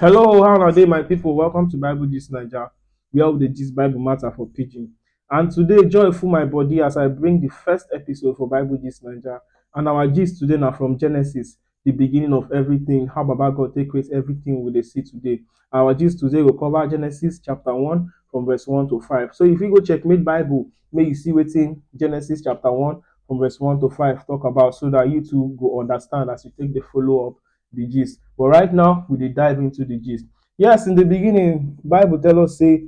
Hello, how are they, my people? Welcome to Bible Gist Niger, where we the gist Bible matter for pidgin. And today, joy full my body as I bring the first episode for Bible Gist Niger. And our gist today now from Genesis, the beginning of everything, how Baba God take create everything we dey see today. Our gist today will cover Genesis chapter 1 from verse 1 to 5. So if you go check Made Bible, may you see within Genesis chapter 1 from verse 1 to 5 talk about so that you too go understand as you take the follow up the gist. But right now, we dey dive into the gist. Yes, in the beginning, Bible tell us say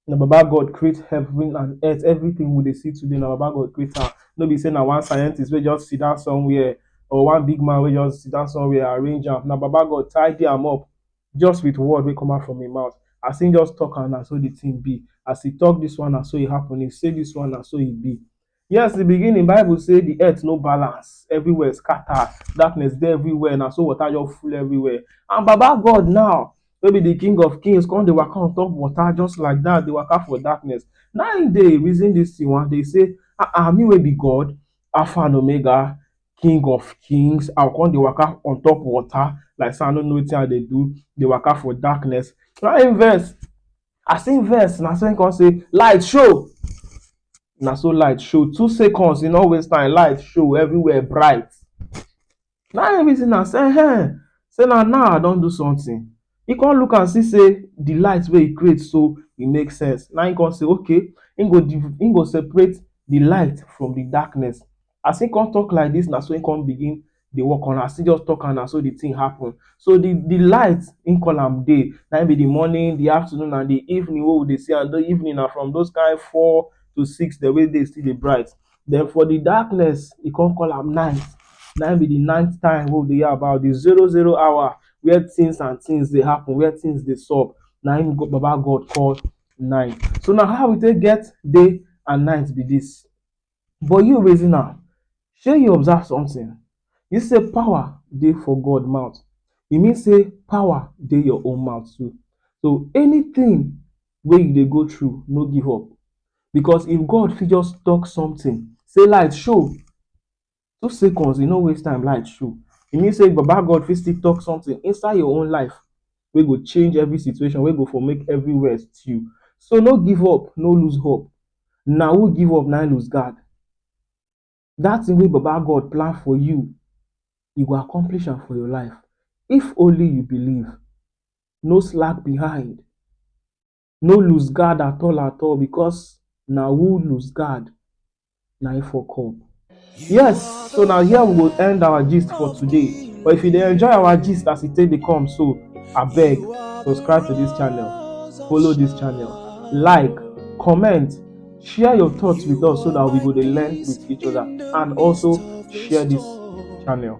na Baba God create heaven and earth. Everything we dey see today, na Baba God create am. No be say na one scientist wey just sit down somewhere or one big man wey just sit down somewhere arrange am. Na Baba God tidy am up just with word wey come out from him mouth. As he just talk am, na so the thing be. As he talk this one, na so e happen. He say this one, na so e be. Yes, in the beginning, Bible say the earth no balance, everywhere scatter, darkness dey everywhere, na so water just full everywhere. And Baba God now, wey be the King of Kings, come dey waka on top water just like that, dey waka for darkness. Na im dey reason this thing one day say, ah ah, me wey be God, Alpha and Omega, King of Kings, I go come dey waka on top water like say I no know wetin I dey do, dey waka for darkness. Na im vex. As im vex, na so im come say, Light show! Na so light show. Two seconds, e no waste time, light show, everywhere bright. Na im reason am say, Ehen, say na now I don do something. He come look am see say the light wey he create so, e make sense. Na im come say, Okay, im go, im go separate the light from the darkness. As im come talk like dis na so im come begin dey work on am. As im just talk am na so de thing happen. So de de light im call am day. Na im be de morning, de afternoon and de evening wey we dey see am. De evening na from those kain four to six dem wey day still dey bright. Den for de darkness, e come call am night. Na im be de night time wey we dey hear about. De zero zero hour where things and things dey happen, where things dey sup na im Baba God call night. So na how we take get day and night be dis. But you reason am, shey you observe something? You see sey power dey for God mouth, e mean sey power dey your own mouth too. So anything wey you dey go through, no give up because if God fit just talk something sey light show, Two seconds, e no waste time, light show. E mean sey Baba God fit still talk something inside your own life wey go change every situation, wey go for make everywhere stew. So no give up, no lose hope. Na who give up na im lose guard. Dat thing wey Baba God plan for you, e go accomplish am for your life if only you believe. No slack behind. no loose guard at all at all because na who loose guard na him fuck up. Yes, so na here we go end our gist for today. But if you dey enjoy our gist as e take dey come so, abeg subscribe to this channel, follow this channel, like, comment, share your thoughts with us so that we go dey learn with each other and also share this channel.